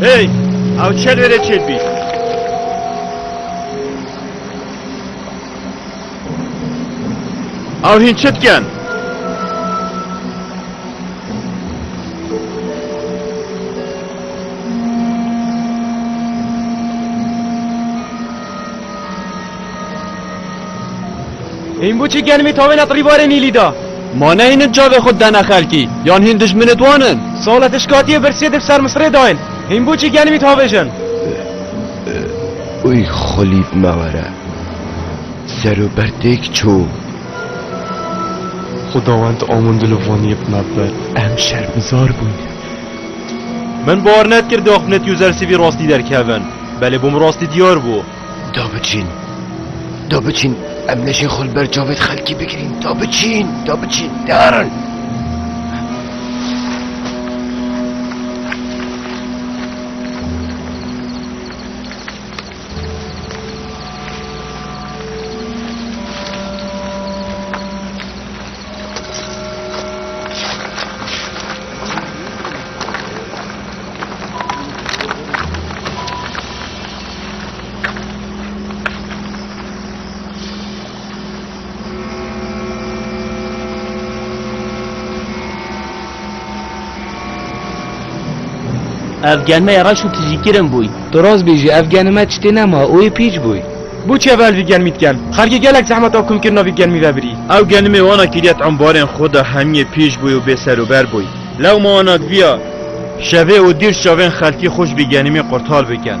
Hey! Ew çel wêrê çêt bî. Ew hîn çi dikin? Hîn bû çi gelmî tavên et rîbarê Nîlî de. Ma ne hînên çavê xwe didene xelkî, yan hîn dijminê wan in? Sala te ji katiyê birsiyê di bi ser misirê de in. Hîn bû çi gelmî tavê jin. Uy xulîb me were. Ser û ber têk çû. Xudawend amûn di livaniyê bi me bi. Em şermizar bûyne. Min bar nedkir di axpnetî û zersivî rastî derkevin. Belê bû min rastî diyar bû. Da biçîn. Da biçîn. Em nejên xwe li ber cavêt xelkî bigirîn. Da biçîn. Da biçîn. Derin. Ev gelmeye reş û tijîkirin bûy. Tu rast bêjî ev gelime tiştê nema û yê pîç bûy. Bû çi ev elvî gelmî dikem? Xelkê gelek zehmet a komkirina vî gelmî vebirî. Ew gelmê wana kiriye ti ambarên xwe de hemiyê pîç bûy û bêserober bûy. Lewma anak viya şevê û dîr çavên xelkî xwe ji bîgenîmê qurtar bikin.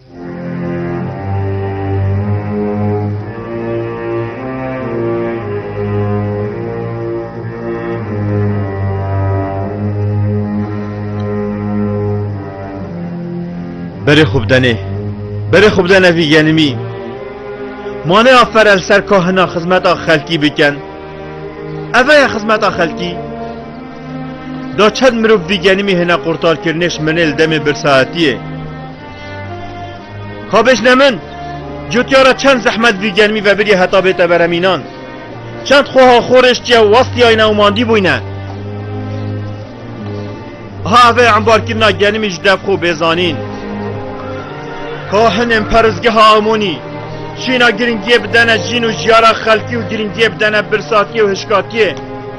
Berê xwe bidenê. Berê xwe bidene vî genimî. Mane aferel ser kahina xizmeta xelkî bikin. Eve ye xizmeta xelkî. Da çend mirov vî genimî hêne qurtarkirinê ji menê li demê birsaetiyê. Xabêj ne min, cutiya re çend zehmet vî germî vebirî heta bête beremînan. Çend xweha xwe rêştiye û westiyayne û mandî bûyne. Ha ev ê embarkirina genimî ji dev xwe bêzanîn. Kahinên perizgeha Amonî şîna giringiyê bidene jîn û jiyara xelkî û giringiyê bidene birsakiyê û hişkatiyê.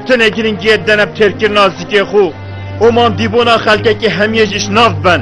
Tinê giringiyê didene bi têrkirina zikê xwe û mandîbûna xelkekî hemiyê jî ji nav biben.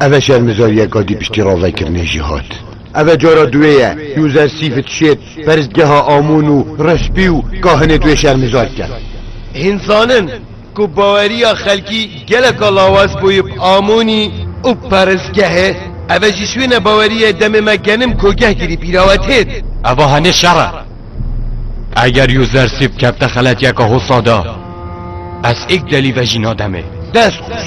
Ev e şermezariyeka dî piştî ravekirinê jî hat. Ev e cara duwê ye User Sîfit Şêt perstgeha Amûn û Respî û Kahinê duwê şermezar bike. Hin zanin ku baweriya xelkî geleka lawaz bûye bi Amûnî û perstgehê. Ev e ji şwêne baweriyê demê me genim kogehgirî bîrawe têt. Eva henê şer e. Eger User Sîf kevte xeletiyeka hosa de, ez êk delî vejîna demê. Dest xweş.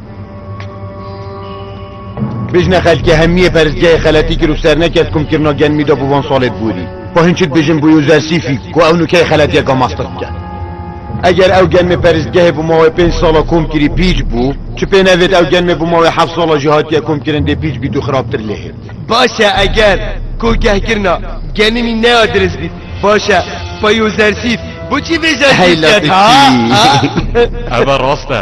Bijne xelkê hemiyê peristgehê xeletî kir û sernekez kumkirina genmî de bi van salê bûrî. Xwe hin çi dibêjin bû Yûzersîfî ku ew nûkeyê xeletiyeke mastix bike. Eger ew genmê peristgehê bi mawê pênc sala kom kirî pîç bû, çi pê nevêt ew genmê bi mawê heft sala jî hatiye komkirin dê pîç bît û xirabtir lê hêt. Baş e eger kogehkirina genimî neya dirist bît. Baş e pa Yûzersîf bo çî vê jentî ket ha? Ev e rast e.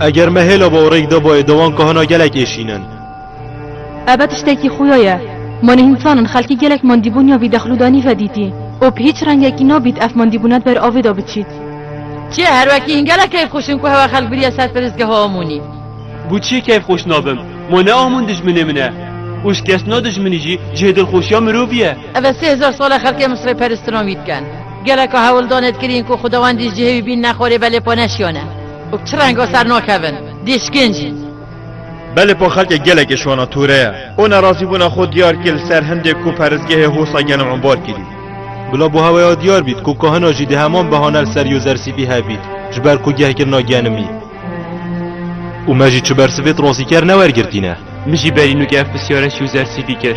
Eger me hêla bawerek dabayê dewan ka hina gelek ê şînin. Ebe tiştekî xuya ye. Ma nihînsan in xelkî gelek mandîbûn ya vî dexlû da nîve dîtî û bi hîç rengekî nabît ev mandîbûna di ber avê da biçît. Çiye her wekî hîn gelek keyf xweş in ku hewa xelk biriye ser pirsgeha Amûnî. Bo çiye keyf xweş nabim? Ma ne Amûn dijminê min e û şikestina dijminî jî cihê dilxweşiya mirovî ye. Ebe sê hezar sal e xelkê Misrê peristinan wî dikin. Geleka hewldanê dikirîn ku xwedewan dî ji cihê wî bîn ne xwarê belê xwe neşiyane. Û çi rengo ser nakevin dîşkin jî. Belê po xelkê gelekê şona tûre ye. O nerazîbûna xwe diyar kir li ser hindê ku peristgehê Hosa gelm embar kirî. Bila bo heweya diyar bît ku kahina jî di heman behane li ser Yozersîpî hev bît ji ber ku gehkirina genimî. Û me jî çi bersivê di rastî ker newergirtîne. Min jî berî nû ev pisyare ji Yozersîpî kir.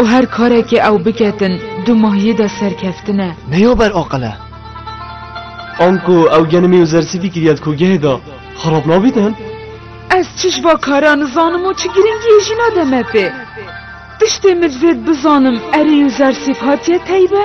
Û her karekê ew biketin du mahyî de serkeftin e. Ne ya ber aqil e. Anku ew genimî û zersî dî kiriye di kûgehê de, xerab nabînin? Ez çiş va kara nizanim û çi giringiyê jî nade me pê. Tiştê min divê bizanim erî û zersî hatiye teybe?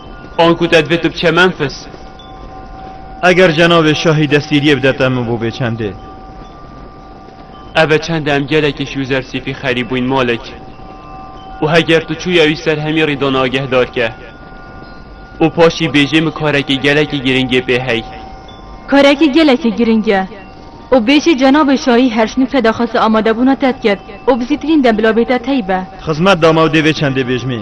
An ku te divê tu biçe Memfis. Eger cenabê şahî desîriyê bide te min bo bê çendê. Eve çend e em gelekî şûzer sîfî xerîb bûyn Malik. Û heger tu çûya wî ser hemî rîdan agehdar ke. Û paşî bêjê min karekî gelekî girîngê pê hey. Karekî gelekî girîng e. Û bêjê cenabê şahî her şinûke daxwasa amadebûna te diket û bi zîtirîn dem bila bê te tey be. Xizmet dama û dê vê çendê bêjmî.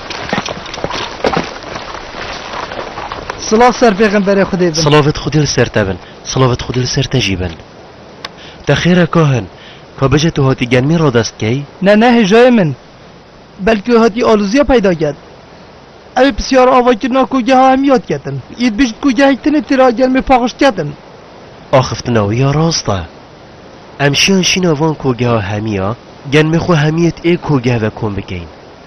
Silav ser pêxemberê Xwedê bin. Silavit Xwedê li ser te bin. Silavit Xwedê li ser te jî bin. Te xêr e kahin. Ka bêje tu hatî genmî radest key? Ne ne hêjayê min. Belkî hatî alûziya peyda ket. Ew ê pisyara ava kirina ku geha em yad ketin. Î dibêjin ku gehek tenê tira genmê paxişt ketin. Axiftina wî ya rast e. Em şiyan şîna van kogeha hemî ya, genmê xwe hemî yê ti ê kogeh ve kom bikeyin.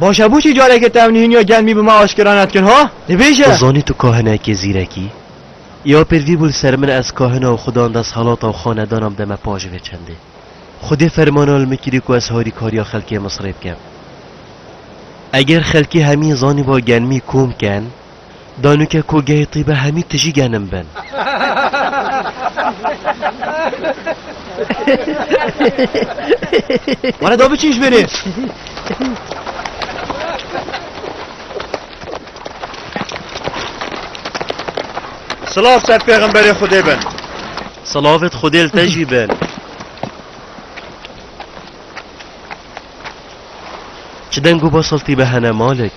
Baş e boçî careke te ev nihîniya germî bi me aşkera nedikin ha? Dibêje! Zanî tu kahin e kê zîrek î? Ya pêl vî bû li ser min ez kahina û xudan desthelata û xanedanan bideme pa ji vê çendê. Xwedê fermana li min kirî ku ez harîkariya xelkê Misrê bikem. Eger xelkê hemîn zanîba germî kom ken, Danûke ku gehê tîbe hemî tijî genim bin. Were da biçin ji mêrê. Silav ser pêxemberê Xwedê bin. Silavêt Xwedê li te jî bin. Çi deng û basal tîbe hene Malik?